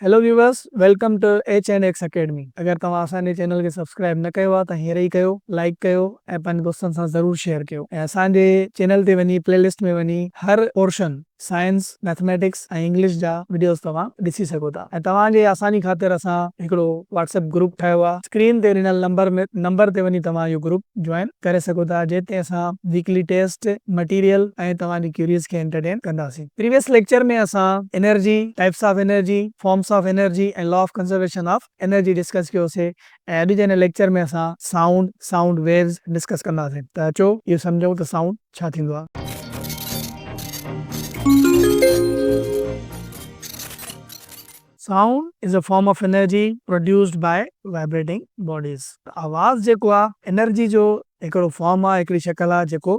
Hello viewers welcome to H and X academy اگر توهان اسان جي چينل کي سبسڪرائب نه ڪيو آهي ته هينئر ئي ڪيو لائيڪ ڪيو ۽ پنهنجي دوستن سان ضرور شيئر ڪيو ۽ اسان جي چينل تي وڃي پلي لسٽ ۾ وڃي هر پورشن سائنس ميٿميٽڪس ۽ انگلش جا وڊيوز توهان ڏسي سگهو ٿا ۽ توهان جي آساني خاطر اسان هڪڙو واٽس ايپ گروپ ٺاهيو آهي اسڪرين تي ڏنل نمبر نمبر تي وڃي توهان اهو گروپ جوائن ڪري سگهو ٿا جنهن تي اسان ويڪلي ٽيسٽ مٽيريل ۽ توهان جي ڪيوريز کي انٽرٽين ڪنداسين. پريويس ليڪچر ۾ اسان energy, types of energy, forms of energy ۽ law of conservation of energy discuss ڪيو سي ۽ اڄ جي هن ليڪچر ۾ اسان سائونڊ، Sound Waves، ڊسڪس ڪنداسين ته اچو اهو سمجهون ته سائونڊ ڇا ٿيندو آهي. Sound is a form of energy produced by vibrating bodies. آواز جيڪو آ انرجي جو هڪڙو فارم آ، هڪڙي شڪل آ جيڪو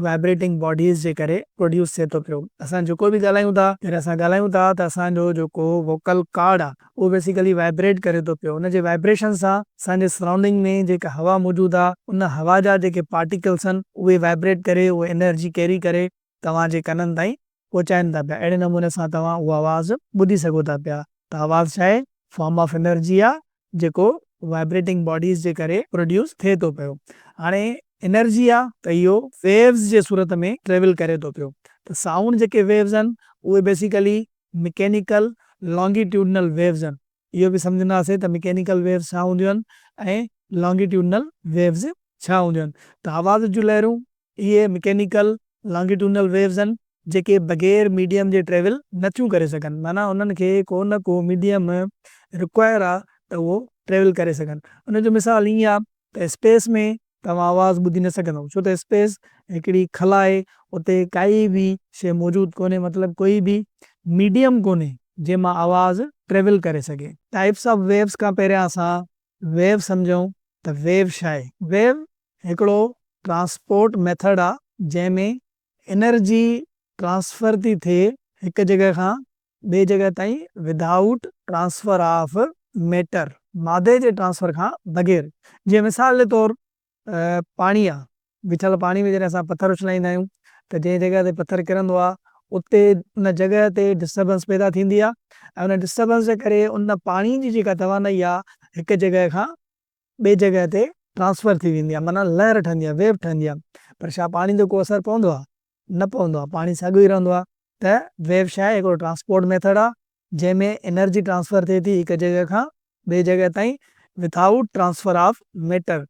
وائبريٽنگ باڊيز جي ڪري پروڊيوس ٿئي ٿو پيو. اسان جيڪو به ڳالهايون ٿا، جڏهن اسان ڳالهايون ٿا ته اسان جو جيڪو ووڪل ڪارڊ آ اهو بيسيڪلي وائبريٽ ڪري ٿو پيو. ان جي وائبريشن سان اسان جي سرائونڊنگ ۾ جيڪا هوا موجود آ ان هوا جا جيڪي پارٽيڪلس آهن اهي وائبريٽ ڪري اهي انرجي ڪيري ڪري توهان جي ڪنن تائين پهچائين ٿا پيا اهڙي نموني سان توهان اهو آواز ٻڌي سگهو ٿا پيا ته آواز ڇا آهي فارم آف انرجي آهي جيڪو وائبريٽنگ باڊيز جي ڪري پروڊيوس ٿئي ٿو پيو هاڻي انرجي آهي ته اهو ويوز جي صورت ۾ ٽريول ڪري ٿو پيو ته سائونڊ جيڪي ويوز آهن اهي بيسيڪلي مڪينيڪل لانگيٽيوڊنل ويوز آهن اهو به سمجهنداسين ته مڪينيڪل ويوز ڇا هونديون آهن ۽ لانگيٽيوڊنل ويوز ڇا هونديون آهن ته آواز جون لهرون اهي مڪينيڪل لانگيٽونل ويوز آهن جيڪي بغير ميڊيم جي ٽريول نه ٿيون ڪري سگهن معنيٰ انهن کي ڪو نه ڪو ميڊيم ريڪوائر آهي ته اهو ٽريول ڪري سگهن ان جو مثال ائين آهي ته اسپيس ۾ توهان آواز ٻڌي نه سگهندو ڇو ته اسپيس هڪڙي خلا آهي اتي ڪائي به شيء موجود ڪونهي مطلب ڪوئي به ميڊيم ڪونهي جنهن مان آواز ٽريول ڪري سگهي. ٽائپس آف ويوز کان پهريان اسان ويو سمجهون ته ويو شاهي. ويو هڪڙو ٽرانسپورٽ ميٿڊ آ جنهن ۾ انرجي ٽرانسفر ٿي ٿئي هڪ جڳهه کان ٻي جڳهه تائين ودائوٽ ٽرانسفر آف ميٽر، مادي جي ٽرانسفر کان بغير جيئن مثال جي طور پاڻي آ بيٺل پاڻي ۾ جڏهن اسان پٿر اڇلائيندا آهيون ته جنهن جڳهه تي پٿر ڪرندو آ اتي ان جڳهه تي ڊسٽربنس پيدا ٿيندي آ ۽ ان ڊسٽربنس جي ڪري ان پاڻي جي جيڪا توانائي آ هڪ جڳهه کان ٻي جڳهه تي ٽرانسفر ٿي ويندي آ معنيٰ لهر ٺهندي آ ويو ٺهندي آ پر ڇا پاڻي تي ڪو اثر پوندو آ؟ نه پوندو آهي پاڻي ساڳيو ئي رهندو آهي ته ويو ڇا آهي هڪڙو ٽرانسپورٽ ميٿڙ آهي جنهن ۾ انرجي ٽرانسفر ٿئي ٿي هڪ جڳهه کان ٻي جڳهه تائين without transfer of matter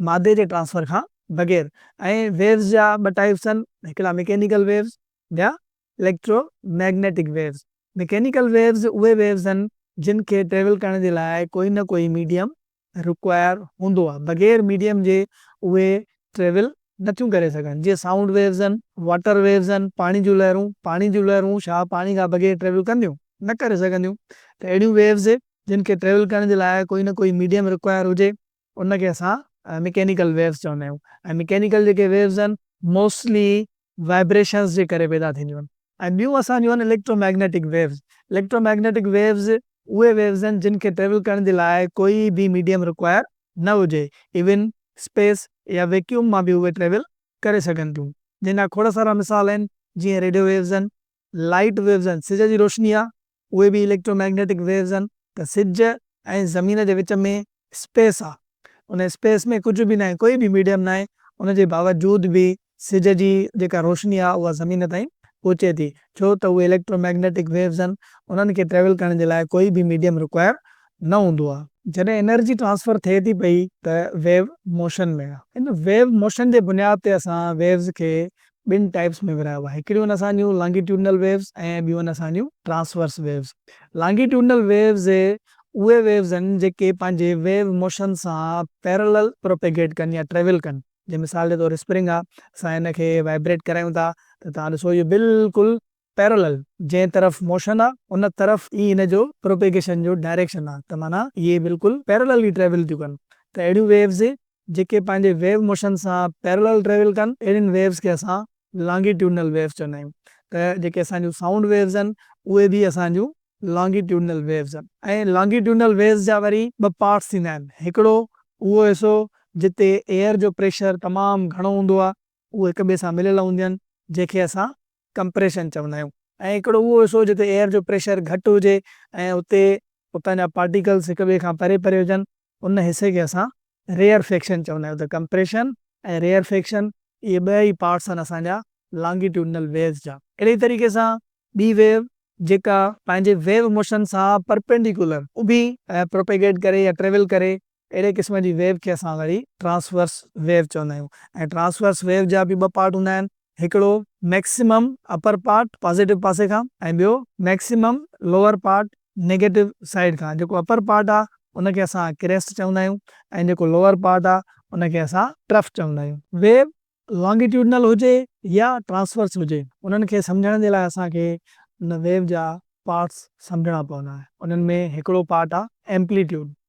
مادي جي ٽرانسفر کان بغير ۽ ويوز جا ٻه ٽائيپس آهن هڪڙا مڪينيڪل ويوز ٻيا electromagnetic waves mechanical waves اهي ويوز آهن جن کي ٽريول ڪرڻ جي لاء ڪوئي نه ڪوئي ميڊيم رڪوائر هوندو آهي بغير ميڊيم جي اهي ٽريول نه ٿيون ڪري سگهن جيئن سائونڊ ويوز آهن واٽر ويوز آهن پاڻي جون لهرون پاڻي جون لهرون ڇا پاڻي کان بغير ٽريول ڪنديون نه ڪري سگهنديون ته اهڙيون ويوز جن کي ٽريول ڪرڻ جي لاء ڪوئي نه ڪوئي ميڊيم رڪوائر هجي ان کي اسان مڪينيڪل ويوز چوندا آهيون ۽ مڪينيڪل جيڪي ويوز آهن موسٽلي وائبريشنز جي ڪري پيدا ٿينديون آهن ۽ ٻيون اسان جون آهن electromagnetic waves, electromagnetic waves اهي ويوز آهن جن کي ٽريول ڪرڻ جي لاء ڪوئي به ميڊيم ريڪوائر نه هجي ايون اسپيس يا ويڪيوم مان به اهي ٽريول ڪري سگهن ٿيون جنهن جا کوڙ سارا مثال آهن جيئن ريڊيو ويوز آهن، لائيٽ ويوز آهن، سج جي روشني آهي، اهي به اليڪٽرو مئگنيٽڪ ويوز آهن ته سج ۽ زمين جي وچ ۾ اسپيس آهي، ان اسپيس ۾ ڪجهه به ناهي، ڪوئي به ميڊيم ناهي، ان جي باوجود به سج جي جيڪا روشني آهي اها زمين تائين پهچي ٿي، ڇو ته اهي اليڪٽرو مئگنيٽڪ ويوز آهن، انهن کي ٽريول ڪرڻ جي لاء ڪوئي به ميڊيم رڪوائر نه هوندو آهي. جڏهن انرجي ٽرانسفر ٿئي ٿي پئي ته ويو موشن ۾ آهي، ان ويو موشن جي بنياد تي اسان ويوز کي ٻن ٽائيپس ۾ ورهايو آهي. هڪڙيون آهن اسان جون لانگيٽيوڊنل ويوز ۽ ٻيون آهن اسان جون ٽرانسورس ويوز. لانگيٽيوڊنل ويوز اهي ويوز آهن جيڪي پنهنجي ويو موشن سان پيرلل پروپيگيٽ ڪن يا ٽريول ڪن. جيئن مثال جي طور اسپرنگ آهي اسان ان کي وائبريٽ ڪرايون ٿا ته توهان ڏسو اهو بلڪل Parallel، جنهن طرف موشن آ ان طرف ئي ان جو پروپيگيشن جو ڊائريڪشن آ ته معنيٰ اهي بلڪل Parallelly ٽريول ٿيون ڪن ته اهڙيون ويوز جيڪي پنهنجي ويو موشن سان Parallel ٽريول ڪن اهڙين ويوز کي اسان Longitudinal Waves چوندا آهيون ته جيڪي اسان جون سائونڊ ويوز آهن اهي به اسان جون Longitudinal Waves آهن ۽ Longitudinal Waves جا وري ٻه پارٽس ٿيندا آهن هڪڙو اهو حصو جتي ايئر جو پريشر تمام گهڻو هوندو آ اهي هڪ ٻئي سان مليل هونديون آهن جنهن کي اسان ڪمپريشن چوندا آهيون ۽ هڪڙو اهو حصو جتي ايئر جو پريشر گهٽ هجي ۽ اتي اتان جا پارٽيڪلز هڪ ٻئي کان پري پري هجن ان حصي کي اسان ريئرفيڪشن چوندا آهيون ته ڪمپريشن ۽ ريئرفيڪشن اهي ٻه ئي پارٽس آهن اسان جا لانگيٽيوڊنل ويوز جا. اهڙي ئي طريقي سان ٻي ويو جيڪا پنهنجي ويو موشن سان پرپينڊيڪولر اڀي پروپيگيٽ ڪري يا ٽريول ڪري اهڙي قسم جي ويو کي اسان وري ٽرانسورس ويو چوندا آهيون ۽ ٽرانسورس ويو جا به ٻه پارٽ هوندا آهن هڪڙو ميڪسيمم اپر پارٽ پازيٽو پاسي کان ۽ ٻيو maximum lower part negative side کان جيڪو اپر پارٽ آهي ان کي اسان ڪريسٽ چوندا آهيون ۽ جيڪو لوئر پارٽ آهي ان کي اسان ٽرف چوندا آهيون. ويو لانگيٽيوڊنل هجي يا ٽرانسورس هجي انهن کي سمجهڻ جي لاء اسان کي ان ويو جا پارٽس سمجهڻا پوندا انهن ۾ هڪڙو پارٽ آهي ايمپليٽيوڊ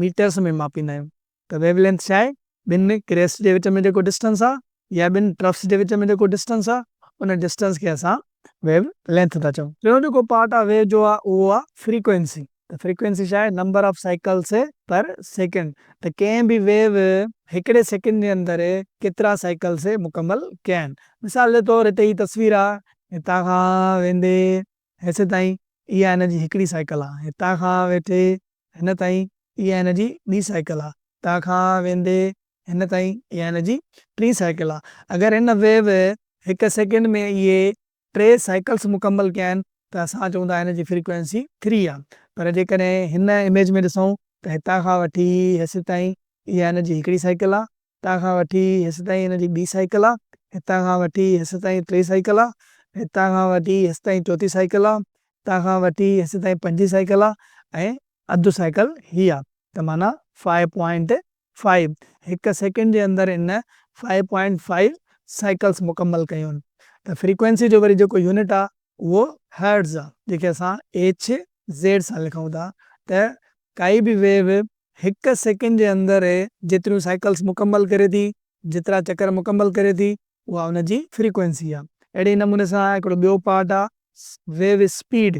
ميٽرس ۾ ماپيندا آهيون ته ويو لينٿ ڇا آهي، ٻن ڪريسٽ جي وچ ۾ جيڪو ڊسٽنس آهي يا ٻن ٽرفس جي وچ ۾ جيڪو ڊسٽنس آهي ان ڊسٽنس کي اسان ويو لينٿ ٿا چئون. ٽيون جيڪو پارٽ آهي ويو جو اهو آهي فريڪوئنسي ته فريڪوئنسي ڇا آهي number of cycles per second ته ڪنهن به ويو هڪڙي سيڪنڊ جي اندر ڪيترا سائيڪلس مڪمل ڪيا آهن مثال جي طور هتي هي تصوير آهي هتان کان ويندي هيسيتائين اها هن جي هڪڙي سائيڪل آ. هتان کان ويٺي هن تائين اها هن جي ٻي سائيڪل آ. هتان کان ويندي هن تائين اها هن جي ٽين سائيڪل آ. اگر هن ويو هڪ سيڪنڊ ۾ اهي ٽي سائيڪلس مڪمل ڪيا آهن ته اسان چئون ٿا هن جي فريڪوئنسي ٿري آ. پر جيڪڏهن هن اميج ۾ ڏسون ته هتان کان وٺي هيسيتائين اها هن جي هڪڙي سائيڪل آ. هتان کان وٺي هيستائين هن جي ٻي سائيڪل آ، هتان کان وٺي هيستائين ٽي سائيڪل آ، هتان کان وٺي هيستائين چوٿين سائيڪل آ، هتان کان وٺي هيستائين پنجين سائيڪل آ ۽ اڌ سائيڪل هي آ ته معنيٰ فائيو پوائنٽ فائيو هڪ سيڪنڊ جي اندر هن فائيو پوائنٽ فائيو سائيڪلس مڪمل ڪيون ته فريڪوئنسي جو وري جيڪو يونٽ آ اهو هرٽز آ جنهن کي اسان ايڇ زيڊ سان لکون ٿا ته ڪائي به ويو هڪ سيڪنڊ جي اندر هي جيتريون سائيڪلز مڪمل ڪري ٿي، جيترا چڪر مڪمل ڪري ٿي، اها ان جي فريڪوئنسي آهي. اهڙي نموني سان هڪڙو ٻيو پارٽ آهي ويو اسپيڊ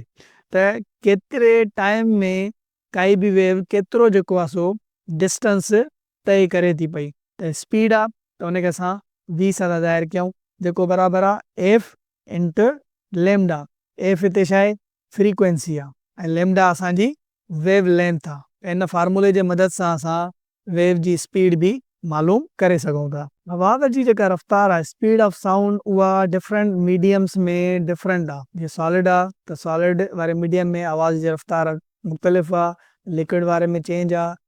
ته ڪيتري ٽائيم ۾ ڪائي به ويو ڪيترو جيڪو آهي سو ڊسٽنس طئي ڪري ٿي پئي ته اسپيڊ آهي ته ان کي اسان V سان ٿا ظاهر ڪيون جيڪو برابر آهي F انٽو ليمڊا. F هتي ڇا آهي؟ فريڪوئنسي آ ۽ ليمڊا اسان جي ويو لينٿ آ ته ان فارمولي جي مدد سان اسان ويو جي اسپيڊ به معلوم ڪري سگهون ٿا. هوا جي جيڪا رفتار آ Speed of Sound اها ڊفرنٽ ميڊيمز ۾ ڊفرنٽ آ جيئن سالڊ آ ته سالڊ واري ميڊيم ۾ آواز جي رفتار مختلف آ ليڪوئڊ واري ۾ چينج آ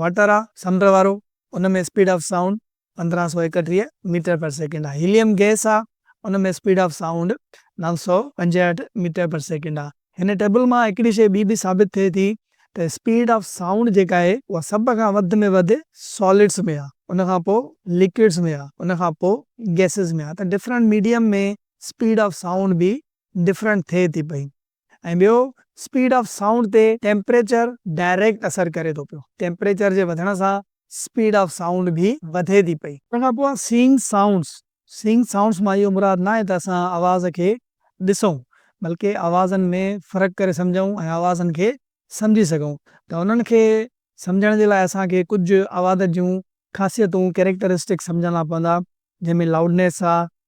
واٽر آ سمنڊ وارو ان ۾ اسپيڊ آف سائونڊ پندرهن سؤ ايڪٽيهه ميٽر پر سيڪنڊ آ هيليم گئس آ ان ۾ اسپيڊ آف سائونڊ نو سؤ پنجهٺ ميٽر پر سيڪنڊ آ هن ٽيبل مان هڪڙي شئي ٻي به ثابت ٿئي ٿي ته اسپيڊ آف سائونڊ جيڪا آهي اها سڀ کان وڌ ۾ وڌ سالڊس ۾ آ ان کان پوء لڪوڊس ۾ آ ان کان پوء گئسز ۾ آ ته different medium ۾ speed of sound به ڊفرنٽ ٿئي ٿي پئي. ۽ ٻيو اسپيڊ آف سائونڊ تي ٽيمپريچر ڊائريڪٽ اثر ڪري ٿو پيو. ٽيمپريچر جي وڌڻ سان اسپيڊ آف سائونڊ به وڌي ٿي پئي. ان کان پوء سينگ سائونڊز، Seeing Sounds مان اهو مراد ناهي ته اسان آواز کي ڏسون بلڪه آوازن ۾ فرق ڪري سمجهون ۽ آوازن کي سمجهي سگهون ته انهن کي سمجهڻ جي لاء اسان کي ڪجهه آواز جون خاصيتون، Characteristics، سمجهڻا پوندا جنهن ۾ لاؤڊنيس آ،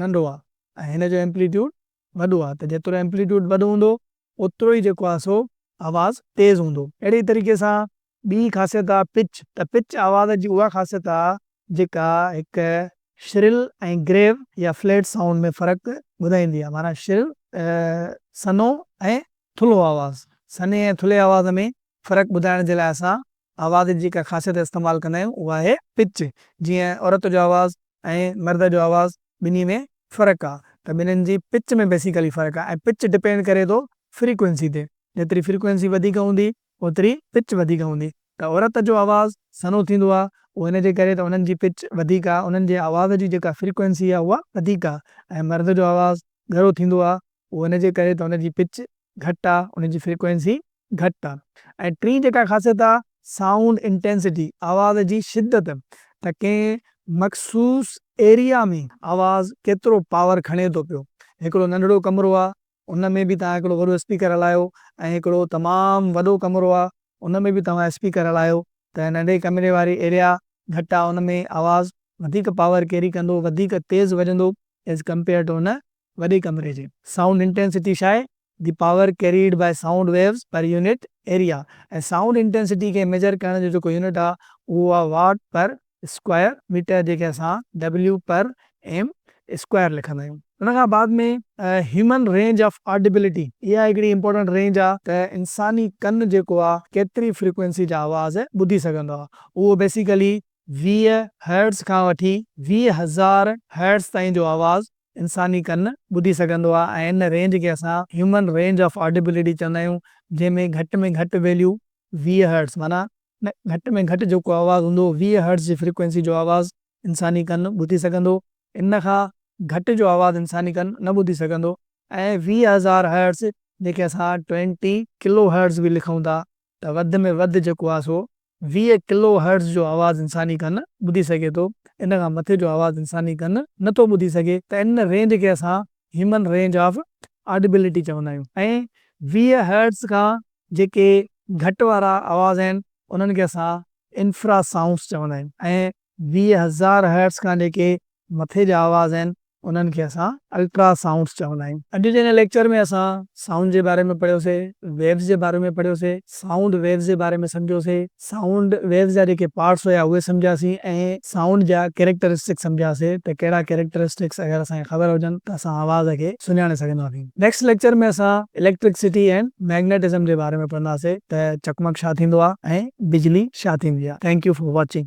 ننڍو آ ۽ هن جو ايمپليٽيوڊ وڏو آ ته جيترو ايمپليٽيوڊ وڏو هوندو اوترو ئي جيڪو آ سو آواز تيز هوندو. اهڙي ئي طريقي سان ٻي خاصيت آ پچ ته پچ آواز جي اها خاصيت آ جيڪا هڪ شرل ۽ گريو يا فليٽ سائونڊ ۾ فرق ٻڌائيندي آ معنيٰ شرل، سنهو ۽ ٿلهو آواز. سنهي ۽ ٿلهي آواز ۾ فرق ٻڌائڻ جي لاء اسان آواز جي ڪا خاصيت استعمال ڪندا آهيون اها آهي پچ جيئن عورت جو آواز ۽ مرد جو آواز ٻنهي ۾ فرق آ ته ٻنهن جي پچ ۾ بيسيڪلي فرق آ ۽ پچ ڊپينڊ ڪري ٿو فريڪوئنسي تي جيتري فريڪوئنسي وڌيڪ هوندي اوتري پچ وڌيڪ هوندي ته عورت جو آواز سنهو ٿيندو آ اهو ان جي ڪري ته انهن جي پچ وڌيڪ آ انهن جي آواز جي جيڪا فريڪوئنسي آ اها وڌيڪ آ ۽ مرد جو آواز ڳرو ٿيندو آ اهو ان جي ڪري ته ان جي پچ گهٽ آ ان جي فريڪوئنسي گهٽ آ ۽ ٽين جيڪا خاصيت آ سائونڊ انٽينسٽي آواز جي شدت ته ڪنهن مخصوص ايريا ۾ آواز ڪيترو پاور کڻي ٿو پيو هڪڙو ننڍڙو ڪمرو آ ان ۾ به توهان هڪڙو وڏو اسپيڪر هلايو ۽ هڪڙو تمام وڏو ڪمرو آ ان ۾ به توهان اسپيڪر هلايو ته ننڍي ڪمري واري ايريا گهٽ آ ان ۾ آواز وڌيڪ پاور ڪيري ڪندو وڌيڪ تيز وڄندو ايز ڪمپيئر ٽو ان وڏي ڪمري جي سائونڊ انٽينسٽي شاء the power carried by sound waves per unit area ۽ sound intensity کي ميجر ڪرڻ جو جيڪو يونٽ آهي اهو آهي واٽ پر اسڪوائر ميٽر جنهن کي اسان W پر ايم اسڪوائر لکندا آهيون. ان کان بعد ۾ هيومن رينج آف آڊيبلٽي اها هڪڙي امپورٽنٽ رينج آهي ته انساني ڪن جيڪو آهي ڪيتري فريڪوئنسي جا آواز ٻڌي سگهندو آهي اهو بيسيڪلي ويهه هرٽز کان وٺي ويهه هزار هرٽز تائين جو آواز انساني ڪن ٻڌي سگهندو آهي ۽ ان رينج کي اسان هيومن رينج آف آڊيبلٽي چوندا آهيون جنهن ۾ گهٽ ۾ گهٽ ويليو ويهه هرٽز معنيٰ گهٽ ۾ گهٽ جيڪو آواز هوندو ويهه هرٽز جي فريڪوئنسي جو آواز انساني ڪن ٻڌي سگهندو ان کان گهٽ جو آواز انساني ڪن نه ٻڌي سگهندو ۽ ويهه هزار هرٽز جنهن کي اسان ٽوئنٽي ڪلو هرٽز به لکون ٿا ته وڌ ۾ وڌ جيڪو آهي سو ويهه ڪلو هرٽز جو آواز انساني ڪن ٻڌي سگهي ٿو، ان کان مٿي جو آواز انساني ڪن نه ٿو ٻڌي سگهي ته ان رينج کي اسان هيومن رينج آف آڊيبلٽي چوندا آهيون ۽ ويهه هرٽز کان جيڪي گهٽ وارا آواز آهن انهن کي اسان انفرا سائونس چوندا آهيون ۽ ويهه هزار هرٽز کان جيڪي مٿي جا آواز آهن انهن کي اسان الٽرا سائونڊز چوندا آهيون. اڄ جي هن ليڪچر ۾ اسان سائونڊ جي باري ۾ پڙهيو سي، ويوز جي باري ۾ پڙهيو سي، سائونڊ ويوز جي باري ۾ سمجهيو سي، سائونڊ ويوز جا جيڪي پارٽس هيا اهي سمجهيا سي ۽ سائونڊ جا ڪيريڪٽرسٽڪس سمجهيا سي ته ڪهڙا ڪيريڪٽرسٽڪس اگر اسان کي خبر هجن ته اسان آواز کي سڃاڻي سگهندا سين. نيڪسٽ ليڪچر ۾ اسان اليڪٽرڪسٽي اينڊ ميگنيٽزم جي باري ۾ پڙهنداسي ته چقمق ڇا ٿيندو آهي ۽ بجلي ڇا ٿيندي آهي. Thank you for watching.